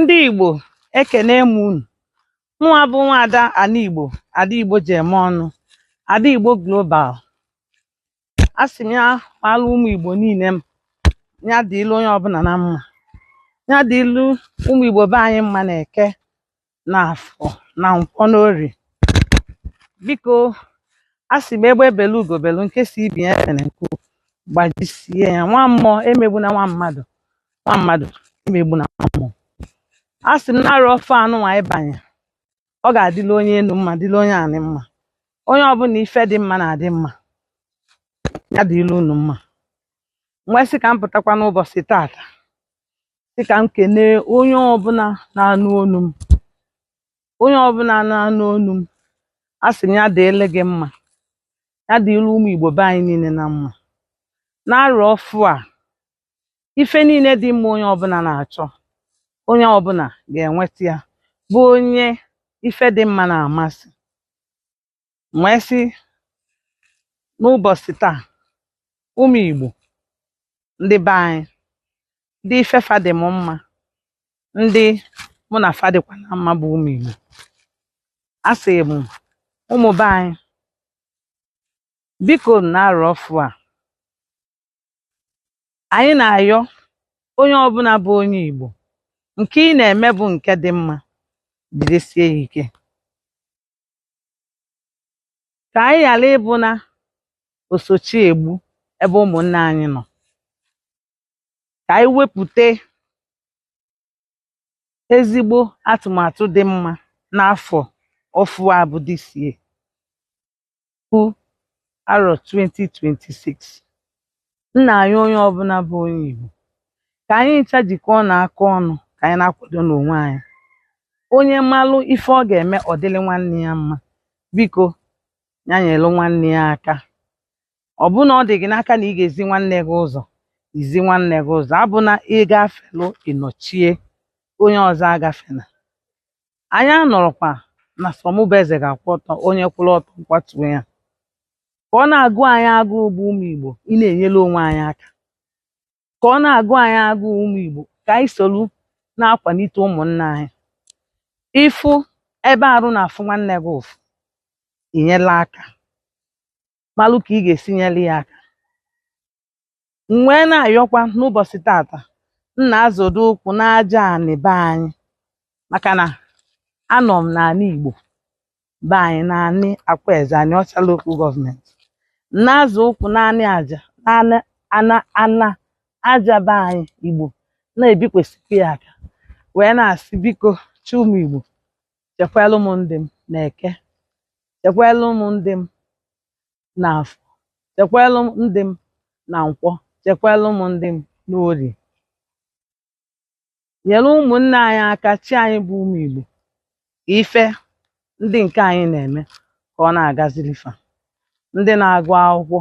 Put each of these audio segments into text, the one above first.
ndị Igbo ekene m unu mụnwa bụ nwaada ana Igbo ada Igbo ji eme ọnụ ada Igbo global a sị m ya maalụ ụmụ Igbo niile mma ya dịịlụ onye ọbụla na mma ya dịịlụ ụmụ Igbo be anyị mma na eke na afọ na nkwọ n'orie biko a sị m egbe belu ugo belu nke si ibe ya ebena nku gbajisie ya nwa mmụọ emegbuna nwa mmadụ nwa mmadụ emegbuna nwa mmụọ a sị m n'arọ ọfụ anụnwa anyị banye ọ ga-adịla onye enu mma dịla onye anị mma onye ọbụla ife dị mma na-adị mma ya dịịlụ unu mma m wee sị ka m pụtakwa n'ụbọsị taata sị ka m kenee onye ọbụla na-anụ olu m onye ọbụla na-anụ olu m a sị m ya dịịlị gị mma ya dịịlị ụmụ Igbo be anyị niile na mma n'arọ ọfụ a ife niile dị mma onye ọbụla na-achọ onye ọbụla ga-enweta ya bụ onye ife dị mma na-amasị m wee sị n'ụbọsị taa ụmụ Igbo ndị be anyị ndị ife fa dị m mma ndị mụ na fa dịkwa na mma bụ ụmụ Igbo a sị m ụmụ be anyị biko n'arọ ọfụ a anyị na-ayọ onye ọbụla bụ onye Igbo nke ị na-eme bụ nke dị mma jidesie ya ike ka anyị ghara ịbụ na osochiegbu ebe ụmụnna anyị nọ ka anyị wepụta ezigbo atụmatụ dị mma n'afọ ọfụ a bụ this year bụ arọ 2026 nna anyị onye ọbụla bụ onye Igbo ka anyị ncha jikọọnụ aka ọnụ ka anyị na-akwado n'onwe anyị onye malụ ife ọ ga-eme ọ dịlị nwanne ya mma biko ya nyelụ nwanne ya aka ọ bụrụ na ọ dị gị n'aka na ị ga-ezi nwanne gị ụzọ i zi nwanne gị ụzọ abụna ị gafelụ ị nọchie onye ọzọ agafena anyị anọrọkwa na sọ mụ bụ eze ga-akwụ ọtọ onye kwụrụ ọtọ m kwatuo ya ka ọ na-agụ anyị agụụ bụ ụmụ Igbo ịna-enyere onwe anyị aka ka ọ na-agụ anyị agụụ ụmụ Igbo ka anyị solu na-akwanite ụmụnna anyị ị fụ ebe arụ na-afụ nwanne gị ụfụ i nyelụ ya aka malụ ka ị ga-esi nyere ya aka m wee na-ayọkwa n'ụbọsị tata m na-azọdo ụkwụ n'aja anị be anyị maka na anọ m n'anị Igbo be anyị n'anị Akwaeze Anaọcha lokal gọọmenti m na-azọ ụkwụ n'anị aja n'anị ana ana aja be anyị Igbo na-ebikwasịkwa ya aka wee na-asị biko chi ụmụ Igbo chekwalụ m ndị m n'eke chekwalụ m ndị m n'afọ chekwalụ m ndị m na nkwọ chekwalụ m ndị m n'orie nyere ụmụnne anyị aka chi anyị bụ ụmụ Igbo ka ife ndị nke anyị na-eme ka ọ na-agaziri fa ndị na-agụ akwụkwọ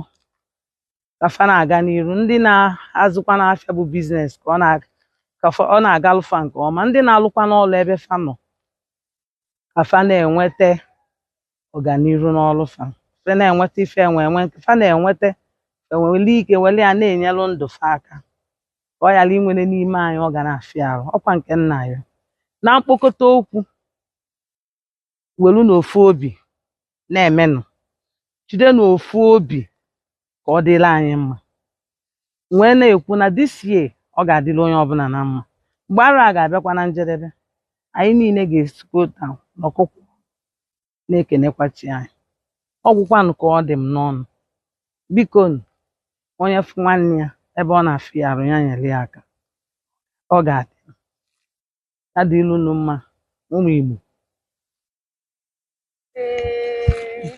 ka fa na-aga n'iru ndị na-azụkwanụ afịa bụ biznes ka ọ na- ka fa- ọ na-agalụ fa nke ọma ndị na-alụkwanụ ọlụ ebe fa nọ ka fa na-enweta ọganiru n'ọrụ fa fa na-enweta ife enwe enwe nke fa na-enweta fa enwere ike were ya na-enyelụ ndụ fa aka ka ọ ghara inwere n'ime anyị ọ ga na-afịa arụ ọkwa nke nna ya na mkpokọta okwu welunụ ofu obi na-emenụ jidenụ ofu obi ka ọ dịrị anyị mma m wee na-ekwu na this year ọ ga-adịrị onye ọbụla na mma mgbe arọ a ga-abịakwa na njedebe anyị niile ga-esikọtanụ ọkụkụ na-ekenekwa chi anyị ọ gwụkwanụ ka ọ dị m n'ọnụ bikonụ, onye fụ nwanne ya ebe ọ na-afịa ya arụ ya nyere ya aka ọ ga-adị ya dịrị unu mma ụmụ Igbo Ee.